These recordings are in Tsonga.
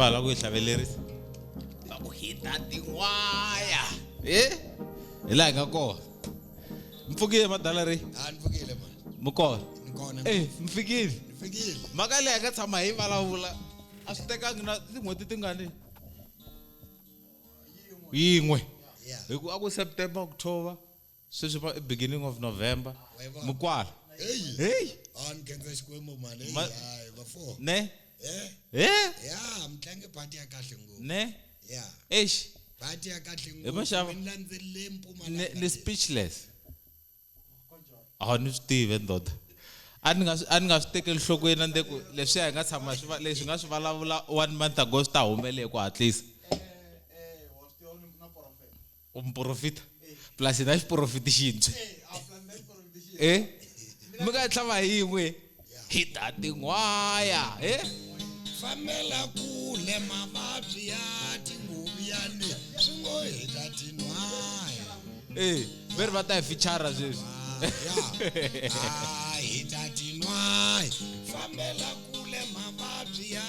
va lava ku yi hlavelerisa. va ku hita tin'waya e hi laha hi nga kona mi pfukile madala ri a ni pfukile ma mi kona ni kona e mi fikile ni fikile mhaka leyi hi nga tshama hi vulavula a swi tekangi na tin'hweti tingani yin'we ya hi ku a ku september october sweswi va i beginning of november Wayibona. mi kwala Heyi. heyi Ah, ni khensa Xikwembu mali. Heyi, Ma- hayi, bafo. ne Eh, he ya, mi tlange party ya kahle ngopfu. ne Ya, eish party ya kahle ngopfu. maxava. Mi landzelele ni Mpumalanga ni leyi. speechless a ni swi tivi ndoda a ni nga swi- a ni nga swi tekeli nhlokweni a ni te ku leswiya hi nga tshama hi swi va- leswi hi nga swi vulavula one month ago swi ta humelele hi ku hatlisa u muporofita plus na xiporofiti xintshwi e eh? mi nga tlhava hi yin'we hi ta tin'waya e eh? fambela kule mavabyi ya tinguvu ya le swi ngo hi ta tin'waya e eh, ve ri va ta hi fichara sweswi hi ta tin'waya fambela kule mavabyi ya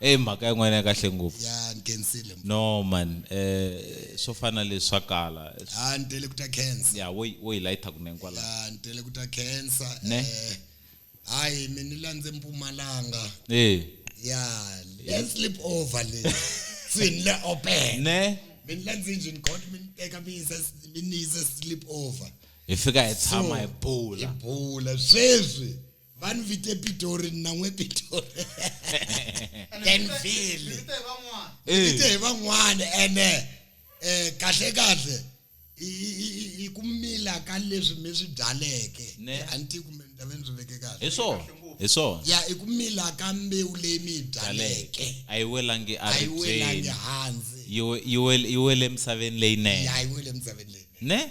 Hey mhaka ya n'wina ya kahle ngopfu. Ya ni kensile. No man eh swo fana leswi swa kala. Ha ni tele ku ta khensa. Ya wo wo yi lighter kunene kwala. Ya ni tele ku ta khensa eh hayi mi ni landze Mpumalanga. Eh. Ya le sleep over le. Swi ni le open. Ne. Mi ni landze njhe ni got mi ni teka mi yisa mi ni yisa sleep over. Hi fika hi tshama hi bula. Hi bula sweswi. vanivita epitori ninamwe epitori denville vita hi van'wana ene um kahle kahle hi ku mila ka leswi mi swi byaleke a ni ti kumbe ni ta ve ni swi veke kahle hi swona hi swona ya i ku mila ka mbewu leyi mi yi byaleke a yi welangi a yi welangi hansi yi wele emisaveni leyinene ya yi wele emisaveni leyinene ne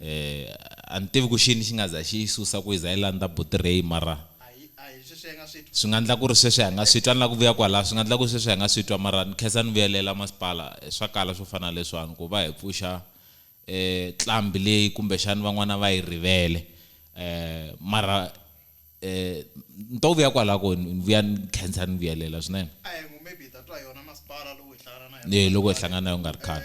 Eeh a ni tivi ku xini xi nga za xi yi susa ku yi za yi landza buti Ray mara swi nga ndla ku ri sweswi a hi nga swi twa ni la ku vuya kwalaya swi nga ndla ku sweswi a hi nga swi twa mara ni khensa ni vuyelela masipala swa kala swo fana na leswiwani ku va hi pfuxa eeh tlambi leyi kumbe xani van'wana va yi rivele eeh mara eeh ni to vuya kwalaya ku ni vuya ni khensa ni vuyelela swinene. Eeh loko hi hlangana na yo ku nga ri khale.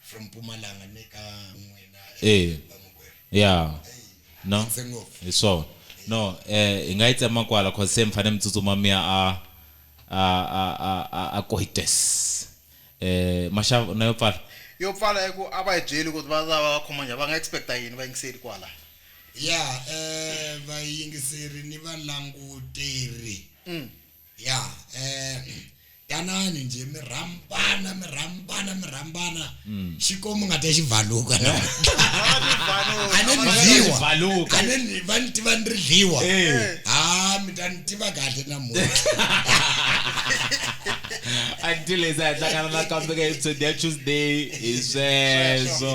From Mpumalanga ni ka n'wina Eya vamakwerhu. Ya. Eya. No. Khense ngopfu. Hi swona. No, eh, hi nga yi tsema kwala cause se mi fane mi tsutsuma mi ya a, a, a, a, a, a Koites. Eh, Mashava, u na yo pfala? Yo pfala i ku a va hi byeli ku va ta va va khoma njhani, va nga expect-a yini vayingiseri kwala? Ya, eh, vayingiseri ni valanguteri Ya, eh, tanani nje mi rhambana mi rhambana mi rhambana xikwembu nga ta xi bvaluka a ne ni dyiwa Bvaluka. a ne ni va ni tiva ni ri dyiwa Eh. ha mi ta ni tiva kahle namuntlha until hi za hi hlangana nakambe ka episode ya tuesday hi sweswo